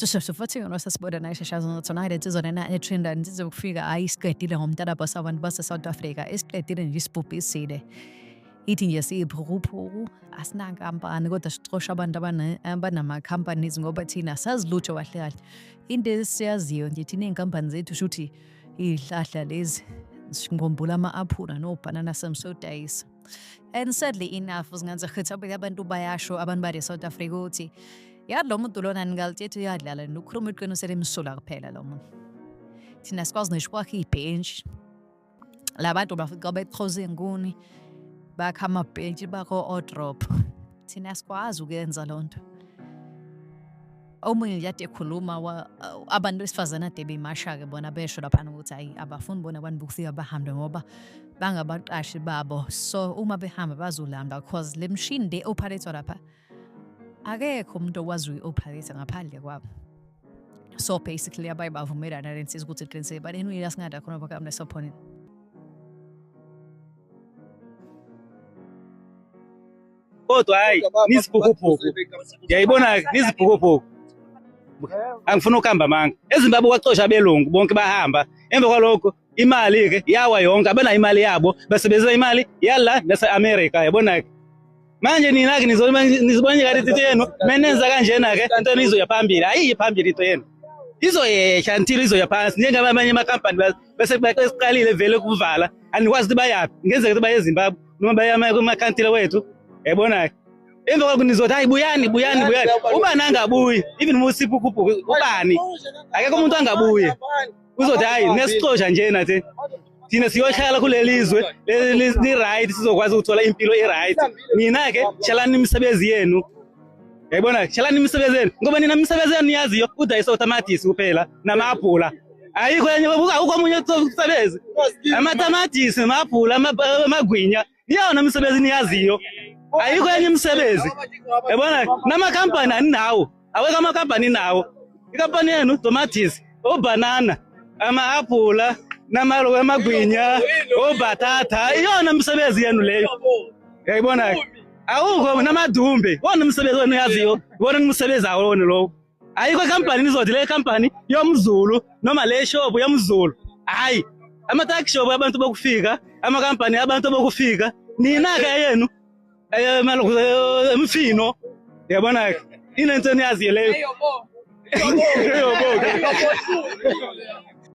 cishe futhi yona sasibona naye shashazo nothi naye le nsizwa lena etrenda nsize ukufika ayi isiqedile ngomntanabo sabantu base-south africa isiqedile nje isibhubhisile ithi nje siyiphukuphuku asinankampani kodwa sicosha abantu abanama-companies ngoba thina sazi lutho kahle kahle into esiyaziyo nje thina iy'nkampani zethu shuthi iy'hlahla lezi ngikhumbula ama-aphula nobhanana samsodayisa and sadly enough singathi khetha abantu bayasho abantu bale south africa ukuthi yadla umuntu lona ningalithetha uyadlala nokukhuluma iqiniso elimsulwa kuphela lo muntu thina sikwazi ngisho kwakhe ibhentshi la bantu bafika bexhoza iy'nguni bakha amabhentshi bakho odrop thina sikwazi ukuyenza loo nto omunye nje ade ekhuluma abantu besifazane ade beyimasha-ke bona besho laphana ukuthi hayi abafuni bona abantu bokufika bahambe ngoba bangabaqashi babo so uma behamba bazolamba because le mshini le ophalethwa lapha akekho umuntu okwazi uyioperator ngaphandle kwabo so basically abaye bavumelana lensiza ukuthi iqiniseke but anyway asingada khona bakamne sophonini kodwa hayi nizibhukubhuku yayibona nizibhukubhuku angifuna ukuhamba manga ezimbabwe kwacosha abelungu bonke bahamba emva kwalokho imali ke yawa yonke abanayo imali yabo basebenzisa imali yala nase America yabona ke manje nina ke nizobonye kade into yenu menenza kanjena ke into nizoya phambili ayiyi phambili into yenu izoyehla until izoya phansi njengoba amanye amakampani bese baqalile vele ukuvala andikwazi ukuthi bayaphi ngenzeka ukuthi baye ezimbabwe noma baye kumakantile wethu yabona ke emva kwalokho nizothi hayi buyani buyani buyani ubani angabuyi even musiphukuphuku ubani akekho umuntu angabuye uzothi hayi nesixosha nje nathi thina siyohlala kuleli zwe li-right sizokwazi ukuthola impilo i-right nina-ke hlalani imisebenzi yenu yayibona hlalani imisebenzi yenu ngoba nina imisebenzi yenu niyaziyo udayisa utamatisi kuphela nama-abhula ayikho enye akukho omunye umsebenzi amatamatisi ma-abhula amagwinya iyona misebenzi niyaziyo ayikho enye imisebenzi yabona namakhampani aninawo awekho amakhampani inawo ikampani yenu tomatis obhanana ama-aphula namalo amagwinya obhathatha iyona misebenzi yenu leyo yayibona-ke awukho namadumbe wona umsebenzi wenu uyaziyo wona umsebenzi awona lowo ayikho company nizothi le company yomzulu noma le shop yomzulu hayi ama tax shop abantu bokufika ama company abantu bokufika nina ke yenu eh malokhu eh, emfino yabona ke inento niyazi leyo yobo yobo